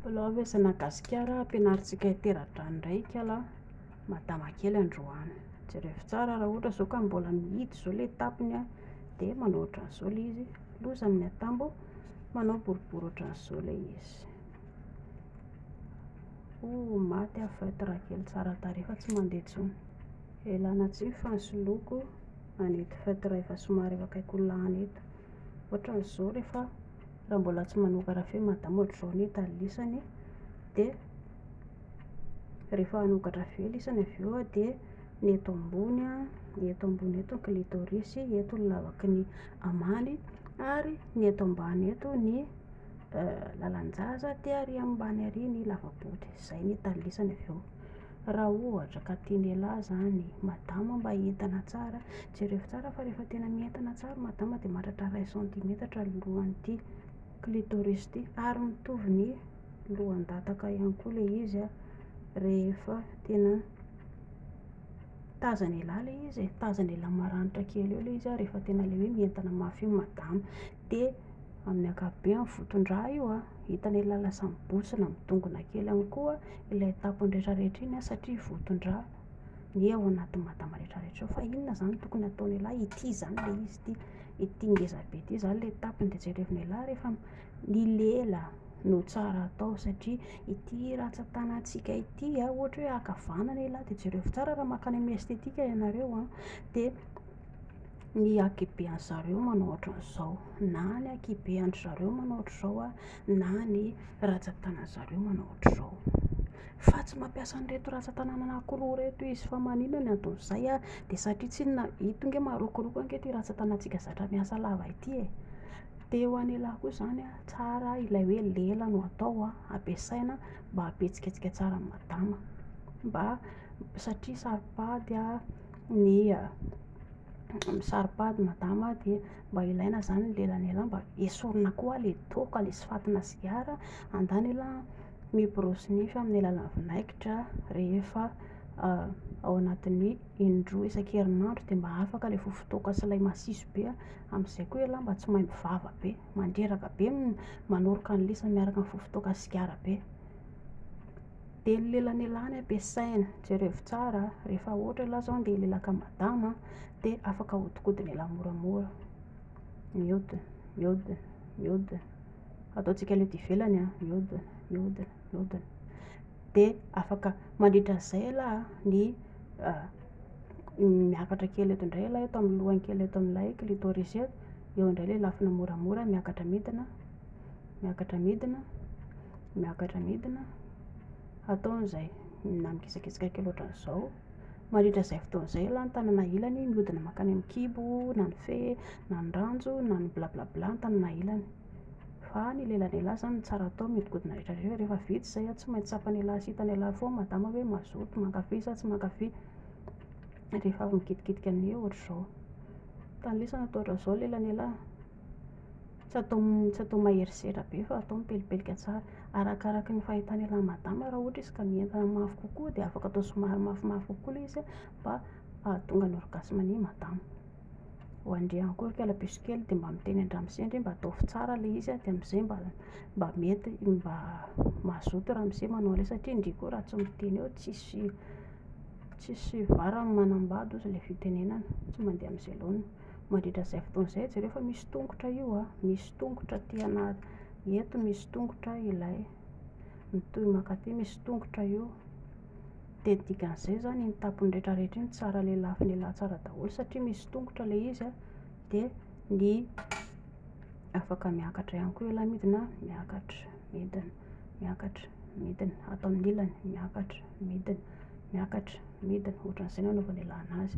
Mbola avy aza na gasikara ampianarintsika hitera-drano indray ikala madama kely androany jereo tsara raha ohatra izao ka mbola mihidy izao ilay tapony a dia manao ohatran'izao ilay izy loza amin'ny atambo manao boribory ohatran'izao ilay izy ho maty aho fat raha kely tsara tarehy fa tsy mandeha intsony elana tsy ny fansoloako anety fat raha efa somary efa akaiky ho lany eto ohatran'izao rehefa raha mbola tsy manoka raha feno madama ohatr'izao ny talilesany dia rehefa hanoka raha feno lisany avy eo dia ny eto ambony a ny eto ambony eto ny clitoris eto ny lavaky ny amany ary ny eto ambany eto ny lalan-jaza dia ary ambany ary ny lava-body izay ny talilesany avy eo Raha ohatra ka tian'ialahy zany madama mba hientana tsara, jerevo tsara fa rehefa tena mientana tsara madama dia mahatratra iray centimetatra ny lohan'ity clitoris ity ary mitovy ny lohan-dataka ihany koa ilay izy rehefa tena tazan'ialahy ilay izy e, tazan'ialahy maranitra kely eo ilay izy rehefa tena ilay hoe mientana mafy io ny madama, dia amin'ny ankapobeny voton-drà io an, hitan'ialahy lasa mibontsina midongona kely ihany koa. ilay tapony rehetra rehetra iny an, satria votondra ny ao anatin'ny madama rehetra rehetra ao, fa inona zany no tokony hataony elah, ity zany ilay izy ity, ity ngeza be ity zany ilay tapony, dia jerevina elah rehefa ny lela no tsara atao, satria ity ratsan-tanantsika ity an, ohatra hoe ankavanana elah, dia jerevo tsara raha makany amin'ny estetika ianareo an, dia ny ankihibe an'zareo manao ohatran'izao, na ny ankihibe an-dry zareo manao ohatran'izao an, na ny rajatana zareo manao ohatr'izao fa tsy mampiasa an'ireto rajatana anankiroa ireto izy fa manina ny anton'izay a de satria tsinona ito nge marokoroko ange ity rajatanatsika zatra miasa lava ity e de eo anelahy koa zany a tsara ilay hoe lela no atao a ampiasaina mba ampihetsiketsika tsara ny madama mba satria saro-pady a ny saro-pady madama de mba ilaina izany ny lelan'ela mba esorina koa ilay toaka ilay tsy fatina sigara, andanila miborosy nify amin'ny alalan'ny vinaigitra rehefa ao anatin'ny indroa isan-kerinandro dia mba afaka ilay vovotoaka sy ilay masiso be, amin'izay koa ela mba tsy maimbo vava be, mandreraka be ny manoroka ny lisany miaraka amin'ny vovotoaka sy sigara be. Dia ny lelanelany ampiasaina, jerevo tsara a, rehefa ohatra ialahy izao handeha hilelaka an'i madama a, dia afaka ahodikodina ialahy moramora. Mihodina, mihodina, mihodina. Ataontsika aleha ety ivelany a, mihodina, mihodina, mihodina. Dia afaka mandritra an'izay ialahy ny ah, miakatra kely eto indray ialahy eto amin'ny lohany kely eto amin'ilay clitoris eto, eo indray ilay lafiny moramora miakatra midina, miakatra midina, miakatra midina, ataony izay na mikisakisaka kely ohatran'izao, mandritra izay fotoana izay aloha ny tanana ilany mihodina mankany amin'ny kibo na ny fe na ny ranjo na ny bla bla bla ny tanana ilany, fa ny lelany ialahy izany no tsara hatao mihodinkodina rehetra rehetra, rehefa vita izay an, tsy maintsy tsapany ialahy sy hitany ialahy foana madama hoe mazoto mankafy sa tsy mankafy, rehefa avy mikitikitika an'io ohatr'izao, tany lesona toa ohatran'izao ny lelany ialahy. Tsy atao tsy atao mahery sehatra be fa atao mipelipelika tsara. Arakaraky ny fahitan'ny elan'i madama raha ohatra izy ka mientana mafy kokoa dia afaka atao somary mafimafy kokoa ilay izy mba hahatonga ny orgasme an'i madama. Ho an'ndry ihany koa ry kalabiso kely dia mba miteny an-dramose ndry mba ataovy tsara ilay izy dia amin'izay mba mba mety mba mazoto ramose manao an'ilay izy satria ndry koa raha tsy miteny eo tsisy tsisy varany manambady hozy ilay fitenenana tsy mandeha amin'izay laoniny. Mandritra izay fotoana izay, jereo fa misy tongotra io a, misy tongotra aty anaty, eto misy tongotra ilay, mitohy mankaty misy tongotra io. Dia ny dikan'izay izany iny tapony rehetra rehetra iny tsara lelafo lehilahy tsara daholo satria misy tongotra ilay izy a, dia ny afaka miakatra ihany koa ilay midina, miakatra, midina, miakatra, midina, ato amin'ny ilany, miakatra, midina, miakatra, midina, ohatran'izay no anaovan'ny lehilahy anazy.